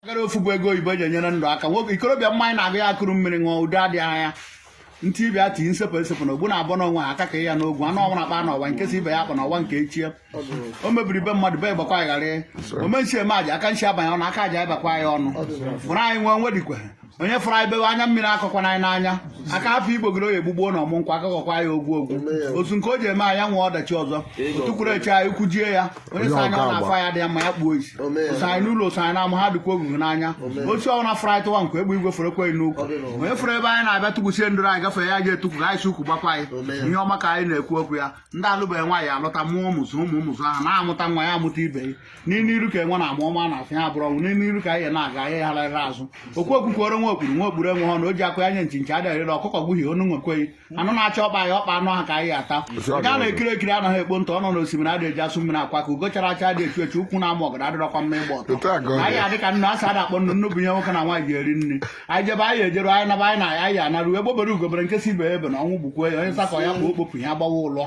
gara ofu bụ ego oyibo eji enyere ndụ aka nwoke ikorobịa mmanya na-agụ ya akụrụ mmiri ṅụọ udo adịghị anya ntị ibe ya tinye nsepụ esepụ na ogbu na-abụ n'onwe ha aka ka ya n'ogwu anụ ọnwụ na-akpa n'ọwa nke si ibe ya akpa n'ọwa nke echie o mebiri be mmadụ be gbakwa ya ghara ome nsi eme aja aka nsi abanye ọnụ aka aja bakwa ya ọnụ fụrụ anyị nwee nwe dikwe onye fụrụ anyị bewe anya mmiri akọkwana ya n'anya aka afọ igbo gịrị oyi egbugbuo na ọmụ nkwa akọkọkwa ya ogwu ogwu otu nke o ji eme anya nwee ọdachi ọzọ tukwuru eche anyị ukwu jie ya onye sị anya ọ na-afụ ya dị ya mma ya kpuo isi o so anyị n'ụlọ o so anyị n'ama ha dịkwa ogugu n'anya otu ọ na fụrụ anyị tụwa nkwa egbe igwe fọrọ ekweghị n'ukwu onye fụrụ ebe anyị na-abịa tukwusie ndụrụ anyị gafee ya ji etukwu ka anyị si ukwu gbakwa anyị ihe ọma ka anyị na-ekwu okwu ya ndị alụbeghị nwaanyị alụta mụọ ụmụ zụọ ụmụ ụmụ zụọ ha na amụta nwa ya amụta ibe ya n'iru iru ka enwe na-ama ọ maa n'azụ ya abụrụ ọnwụ n'iru iru ka anyị na-aga anyị agaghị azụ okwu okwukwere nwa okpuru nwa okpuru enwe ha na o ji akụ anya nchi nchi adịghị eri ọkụkọ gbuhie onu nwekweghị anụ na-achọ ọkpa anyị ọkpa anụ ha ka anyị ata nke a na-ekiri ekiri anaghị ekpo ntụ ọnọ n'osimiri adịghị eji asụ mmiri akwọ aka ugo chara acha adị echu echu ukwu na-ama ọgọdọ adịrọkwa mma ịgba ọtọ Otu a ka ọ dị. anyị adị ka nnu asị ada akpọ nnu nnu bụ ihe nwoke na nwaanyị ji eri nri anyị jebe anyị ejeru anyị naba anyị na anyị anaru egbe bere ugo bere nke sị ibe ebena ọnwụ gbukwe ya onye sakọ ya kpụ okpopụ ya gbawa ụlọ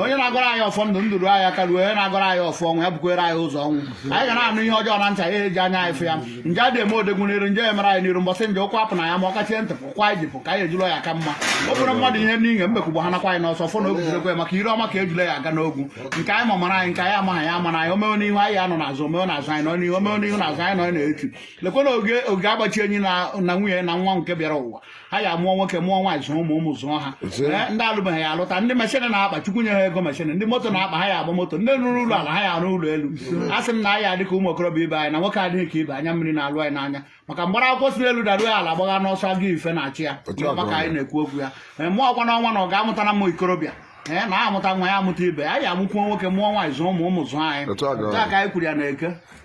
onye na-agọrọ anyị ọfọ ndụ ndụ ru anyị aka ruo onye na-agọrọ anyị ọfọ ọnwụ ya bukwere anyị ụzọ nwụọ anyị ga na-anụ ihe ọjọọ na ntị anyị eji anya anyị fụ ya nje adị eme odogwu n'iru nje emere anyị n'iru mbọsị nje ụkwụ apụ na ya ma ọ kachie ntị pụkwa anyị jipụ ka anyị ejulọ ya ka mma o bụrụ mmadụ ihe n'inye mbekwugbo ha nakwa anyị n'ọsọ fụ na ogwuregwe maka ire ọma ka ejule ji aga n'ogwu nke anyị ma mara anyị nke anyị amaghị ya amara anyị o mewe n'ihu anyị anọ n'azụ o mewe n'azụ anyị nọ n'ihu o mewe n'ihu n'azụ anyị nọ na-etu lekwana oge oge agbachi enyi na na nwunye na nwa nke bịara ụwa ha ya amụọ nwoke mụọ nwaanyị zụọ ụmụ ụmụ zụọ ha Zụọ. Ee, ndị alụbeghị ya alụta ndị machine na-akpa chukwu nye ha ego machine ndị moto na-akpa ha ya agba moto ndị rụrụ ụlọ ala ha ya arụ ụlọ elu a sị m na anyị adị ka ụmụ okorobịa ibe anyị na nwoke adịghị ka ibe anya mmiri na-alụ ya n'anya maka mgbara akwụkwọ si n'elu daruo ya ala gbagha n'ọsọ agụ ife na-achụ ya Otu a ka maka ọ anyị dị. na-ekwu okwu ya Ee, mụọ ọkwa n'ọnwa na ọ ga-amụta na ụmụ ikorobịa ee na amụta nwa ya amụta ibe anyị amụkwuo nwoke mụọ nwaanyị zụọ ụmụ ụmụ zụọ anyị Otu a ka ọ Otu a dị. ka anyị kwuru ya na eke